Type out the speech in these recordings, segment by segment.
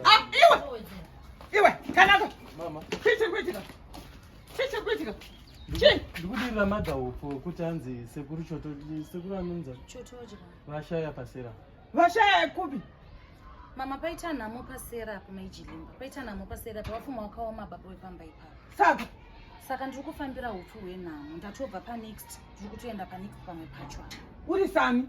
Ah, iwe iwe kanako chii chiri kuitika chii chiri kuitika chii ndikudirira madhaupo kuti anzi sekuru choto sekuru anonza vashaya pasera vashaya kupi mama paita nhamo pasera apo maijilimba paita nhamo pasera apo vafuma wakaoma baba wepamba ipapo saka saka ndiri kufambira upfu hwenhamo ndatobva panext ndiri kutoenda panext pamwe pacho uri sami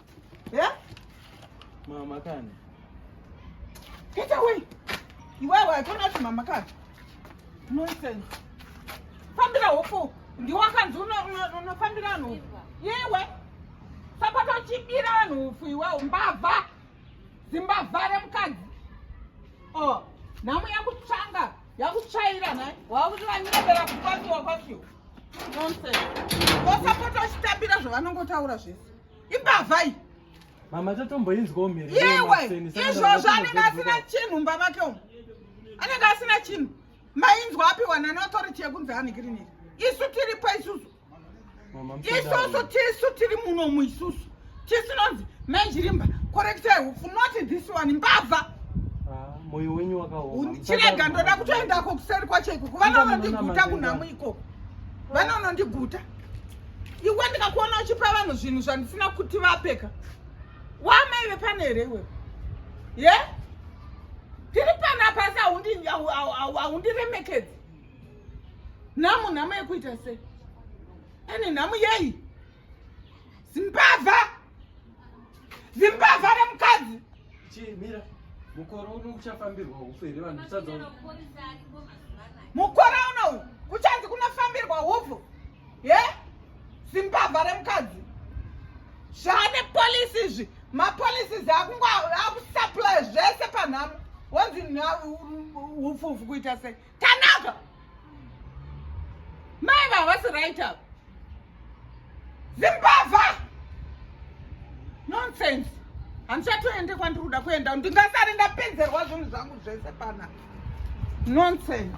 yeah? mama kani get away iwewe atona kuti mama kani nonsense fambira hopo ndiwakanzi unofambira vanhu yewe sapata uchibira vanhu ufu iwewo mbavha zimbavha remukadzi o oh, nhamo yakutsvanga yakutsvaira nhai wakuti vanyebera kukwatiwa kwakiwa nonsense vosapota uchitambira zvavanongotaura zvese imbavha iyi mama tatomboinzwawo mhiri yewe izvozvo anenge asina chinhu mumba make umu anenge asina chinhu mainzwa apiwa nani authority yekunzi anikiriniri isu tiripo isusu isusu tisu tiri munomu isusu tisinonzi mezvirimba korekitai hupfu noti this one mbavha ah, moyo wenyu wakaoma chirega ndoda kutoendako kuseri kwacho ikoko vanoonondiguta kunhamu ikoko vanoonondiguta iwe ndikakuona uchipa vanhu zvinhu zvandisina kuti vapeka wamai vepano here iwe ye tiri pano apasi haundiremekedzi nhamo nhamo yekuita sei ane nhamo yei zimbavha zimbavha remukadzi chimira mukore uno kuchafambirwa hufu here vanhu mukore uno uchanzi kunofambirwa hufu ye zimbavha remukadzi zvaane polisi izvi mapolisi izvi akusaplya zvese panhamo wonzi upfuvu kuita sei tanaka mai vavasi right up zimbavha nonsense handichatoende kwandiri kuda kuenda ndingasari ndapedzerwa zvinhu zvangu zvese pana nonsense